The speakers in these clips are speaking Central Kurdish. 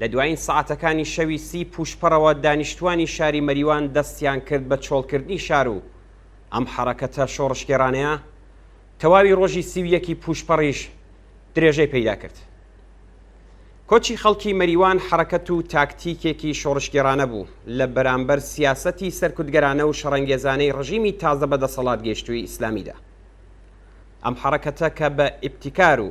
لە دوایین سەعاتەکانی شەوی سی پووشپەڕەوە دانیشتووانی شاری مەریوان دەستیان کرد بە چۆڵکردنی شار و ئەم حەڕەکەتە شۆڕشگێڕانەیە تەواوی ڕۆژی سی و یەکی پووشپەڕیش درێژەی پەیدا کرد. کۆچی خەڵکی مەریوان حەڕەکەت و تاکتیکێکی شۆڕشگێڕانە بوو لە بەرامبەر سیاسەتی سەرکوتگەرانە و شەڕەنگێزانەی ڕژیمی تازە بەدەسەڵات گەیشتووی ئیسلامیدا. ئەم حەڕەکەتە کە بە ئیبتیکار و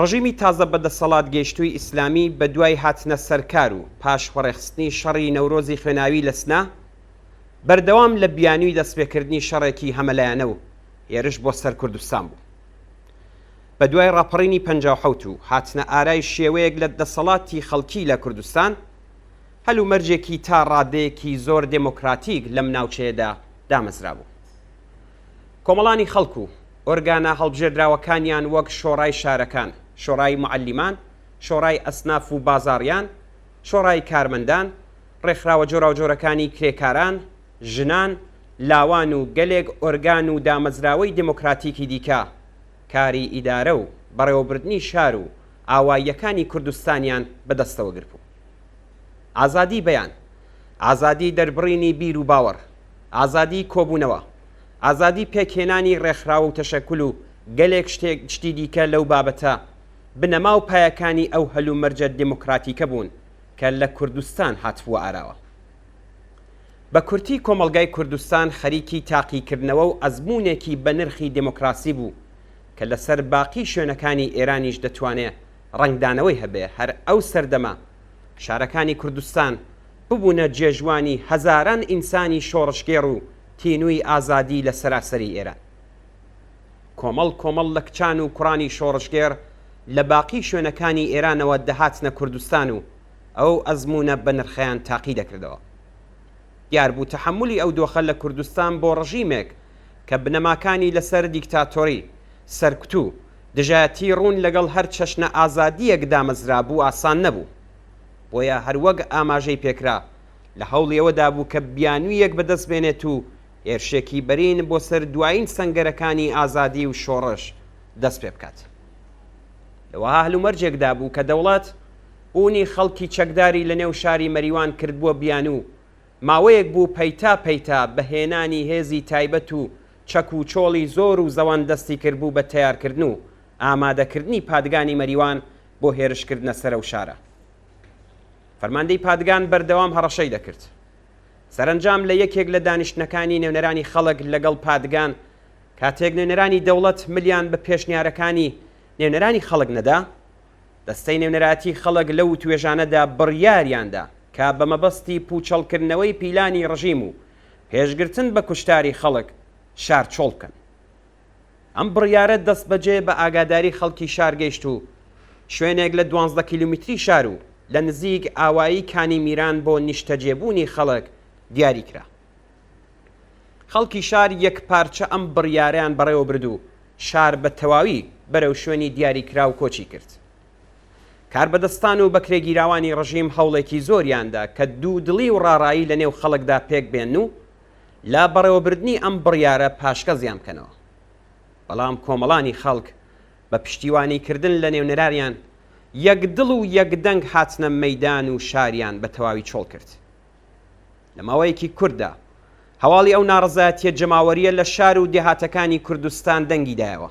ڕژیمی تازە بەدەسەڵات گەیشتووی ئیسلامی بە دوای هاتنە سەرکار و پاش وەڕێخستنی شەڕی نەورۆزی خوێناوی لە سنە، بەردەوام لە بیانووی دەستپێکردنی شەڕێکی هەمەلایەنە و هێرش بۆ سەر کوردستان بوو. بە دوای ڕاپەڕینی پەنجا و حەوت و هاتنە ئارای شێوەیەک لە دەسەڵاتی خەڵکی لە کوردستان، هەلومەرجێکی تا ڕادەیەکی زۆر دێمۆکڕاتیک لەم ناوچەیەدا دامەزرابوو. کۆمەڵانی خەڵک و ئۆرگانە هەڵبژێردراوەکانیان وەک شۆڕای شارەکان، شۆڕای موعەلیمان، شۆڕای ئەسناف و بازاڕیان، شۆڕای کارمەندان، ڕێکخراوە جۆراوجۆرەکانی کرێکاران، ژنان، لاوان و گەلێک ئۆرگان و دامەزراوەی دێمۆکڕاتیکی دیکە کاری ئیدارە و بەڕێوەبردنی شار و ئاواییەکانی کوردستانیان بە دەستەوەگربوو. ئازادی بەیان، ئازادی دەربڕینی بیر و باوەڕ، ئازادی کۆبوونەوە، ئازادی پێکهێنانی ڕێکخراو و تەشەکول و گەلێک شتی دیکە لەو بابەتە، بنەما و پایەکانی ئەو هەلومەرجە دێمۆکڕاتیکە بوون کە لە کوردستان هاتبووە ئاراوە. بە کورتی کۆمەڵگای کوردستان خەریکی تاقیکردنەوە و ئەزموونێکی بە نرخی دێمۆکڕاسی بوو کە لە سەر باقی شوێنەکانی ئێرانیش دەتوانێ ڕەنگدانەوەی هەبێ هەر ئەو سەردەمە شارەکانی کوردستان ببوونە جێژوانی هەزاران ئینسانی شۆڕشگێڕ و تینووی ئازادی لە سەراسەری ئێران. کۆمەڵ کۆمەڵ لە کچان و کوڕانی شۆڕشگێڕ لە باقی شوێنەکانی ئێرانەوە دەهاتنە کوردستان و ئەو ئەزموونە بەنرخەیان تاقی دەکردەوە. دیار بوو تەحەمولی ئەو دۆخە لە کوردستان بۆ ڕژیمێک کە بنەماکانی لەسەر دیکتاتۆری، سەرکوت و دژایەتی ڕوون لەگەڵ هەر چەشنە ئازادییەک دامەزرابوو ئاسان نەبوو. بۆیە هەروەک ئاماژەی پێکرا لە هەوڵی ئەوەدا بوو کە بیانوویەک بەدەست بێنێت و هێرشێکی بەرین بۆ سەر دوایین سەنگەرەکانی ئازادی و شۆڕش دەست پێ بکات. لە وەها هەلومەرجێکدا بوو کە دەوڵەت بوونی خەڵکی چەکداری لە نێو شاری مەریوان کردبووە بیانوو، ماوەیەک بوو پەیتا پەیتا بە هێنانی هێزی تایبەت و چەک و چۆڵی زۆر و زەوەندەستی کردبوو بە تەیارکردن و ئامادەکردنی پادگانی مەریوان بۆ هێرشکردنە سەر ئەو شارە. فەرماندەی پادگان بەردەوام هەڕەشەی دەکرد. سەرنجام لە یەکێک لە دانیشتنەکانی نوێنەرانی خەڵک لەگەڵ پادگان کاتێک نوێنەرانی دەوڵەت ملیان بە پێشنیارەکانی نێونەرانی خەڵک نەدا دەستەی نێونەراتی خەڵک لەو توێژانەدا بڕیاریاندا کە بە مەبەستی پوچەڵکردنەوەی پیلانی ڕژیم و پێشگرتن بە کوشتاری خەڵک شار چۆڵ بکەن ئەم بڕیارە دەستبەجێ بە ئاگاداری خەڵکی شار گەیشت و شوێنێک لە دوانزدە کیلومیتری شار و لە نزیک ئاوایی کانی میران بۆ نیشتەجێبوونی خەڵک دیاری کرا. خەڵکی شار یەکپارچە ئەم بڕیارەیان بەڕێوە برد و شار بە تەواوی بەرەو شوێنی دیاریکراو کۆچی کرد. کاربەدەستان و بەکرێگیراوانی ڕژیم هەوڵێکی زۆریان دا کە دوودڵی و ڕاڕایی لە نێو خەڵکدا پێک بێنن و لە بەڕێوەبردنی ئەم بڕیارە پاشگەزیان بکەنەوە، بەڵام کۆمەڵانی خەڵک بە پشتیوانیکردن لە نێونەراریان یەکدڵ و یەکدەنگ هاتنە مەیدان و شاریان بە تەواوی چۆڵ کرد. لە ماوەیەکی کورتدا هەواڵی ئەو ناڕەزایەتییە جەماوەرییە لە شار و دێهاتەکانی کوردستان دەنگی دایەوە.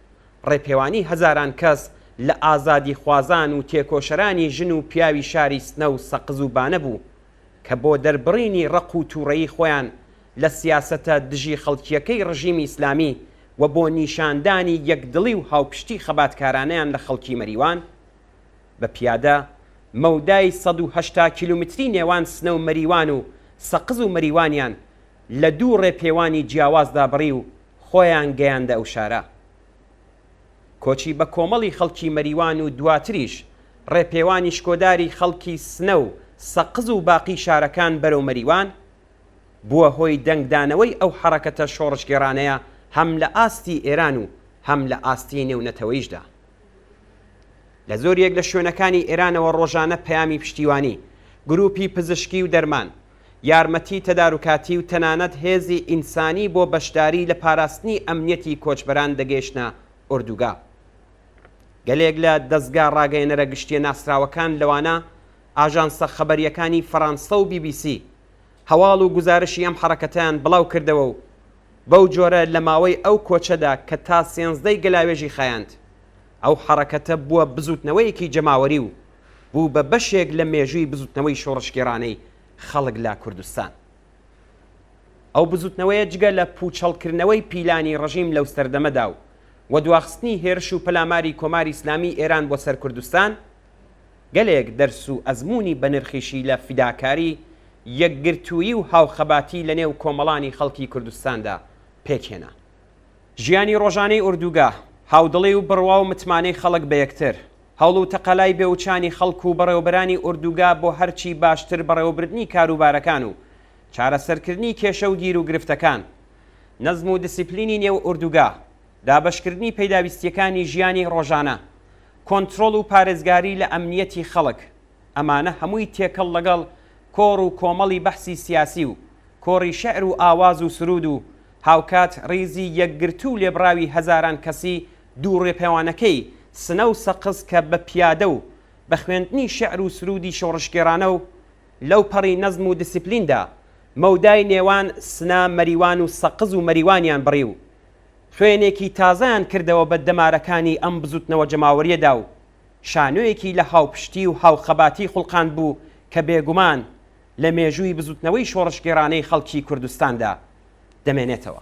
ڕێپێوانی هەزاران کەس لە ئازادیخوازان و تێکۆشەرانی ژن و پیاوی شاری سنە و سەقز و بانە بوو کە بۆ دەربڕینی ڕق و تووڕەیی خۆیان لە سیاسەتە دژی خەڵکییەکەی ڕژیمی ئیسلامی و بۆ نیشاندانی یەکدڵی و هاوپشتی خەباتکارانەیان لە خەڵکی مەریوان بە پیادە مەودای سەد و هەشتا کیلومتری نێوان سنە و مەریوان و سەقز و مەریوانیان لە دوو ڕێپێوانی جیاوازدا بڕی و خۆیان گەیاندە ئەو شارە. کۆچی بە کۆمەڵی خەڵکی مەریوان و دواتریش ڕێپێوانی شکۆداری خەڵکی سنە و سەقز و باقی شارەکان بەرەو مەریوان، بووە هۆی دەنگدانەوەی ئەو حەڕەکەتە شۆڕشگێڕانەیە هەم لە ئاستی ئێران و هەم لە ئاستی نێونەتەوەیشدا. لە زۆریەک لە شوێنەکانی ئێرانەوە ڕۆژانە پەیامی پشتیوانی، گرووپی پزشکی و دەرمان، یارمەتی تەدارکاتی و تەنانەت هێزی ئینسانی بۆ بەشداری لە پاراستنی ئەمنیەتی کۆچبەران دەگەیشتنە ئۆردوگا. گەلێک لە دەزگا ڕاگەیەنەرە گشتیە ناسراوەکان لەوانە ئاژانسە خەبەریەکانی فەرانسە و بی بی سی هەواڵ و گوزارشی ئەم حەڕەکەتەیان بڵاو کردەوە و بەو جۆرە لە ماوەی ئەو کۆچەدا کە تا سێنزدەی گەلاوێژی خایاند ئەو حەڕەکەتە بووە بزوتنەوەیەکی جەماوەری و بوو بە بەشێک لە مێژووی بزوتنەوەی شۆڕشگێڕانەی خەڵک لە کوردستان. ئەو بزوتنەوەیە جگە لە پوچەڵکردنەوەی پیلانی ڕژیم لەو سەردەمەدا و وەدواخستنی هێرش و پەلاماری کۆماری ئیسلامی ئێران بۆ سەر کوردستان، گەلێک دەرس و ئەزموونی بەنرخیشی لە فیداکاری، یەکگرتوویی و هاوخەباتی لە نێو کۆمەڵانی خەڵکی کوردستاندا پێکهێنا. ژیانی ڕۆژانەی ئوردوگاه، هاودڵی و بڕوا و متمانەی خەڵک بە یەکتر، هەوڵ و تەقەلای بێوچانی خەڵک و بەڕێوەبەرانی ئۆردوگا بۆ هەرچی باشتر بەڕێوەبردنی کاروبارەکان و چارەسەرکردنی کێشە و گیروگرفتەکان، نەزم و دیسیپلینی نێو ئۆردوگا، دابەشکردنی پێداویستییەکانی ژیانی ڕۆژانە، کۆنترۆڵ و پارێزگاری لە ئەمنییەتی خەڵک، ئەمانە هەمووی تێکەڵ لەگەڵ کۆڕ و کۆمەڵی بەحسی سیاسی و کۆڕی شیعر و ئاواز و سروود و هاوکات ڕیزی یەکگرتوو و لێبڕاوی هەزاران کەسی دوو ڕێپێوانەکەی سنە و سەقز کە بە پیادە و بە خوێندنی شێعر و سروودی شۆڕشگێڕانە و لەو پەڕی نەزم و دیسیپلیندا مەودای نێوان سنە، مەریوان و سەقز و مەریوانیان بڕی و خوێنێکی تازەیان کردەوە بە دەمارەکانی ئەم بزووتنەوە جەماوەرییەدا و شانۆیەکی لە هاوپشتی و هاوخەباتی خوڵقاندبوو کە بێگومان لە مێژووی بزووتنەوەی شۆڕشگێڕانەی خەڵکی کوردستاندا دەمێنێتەوە.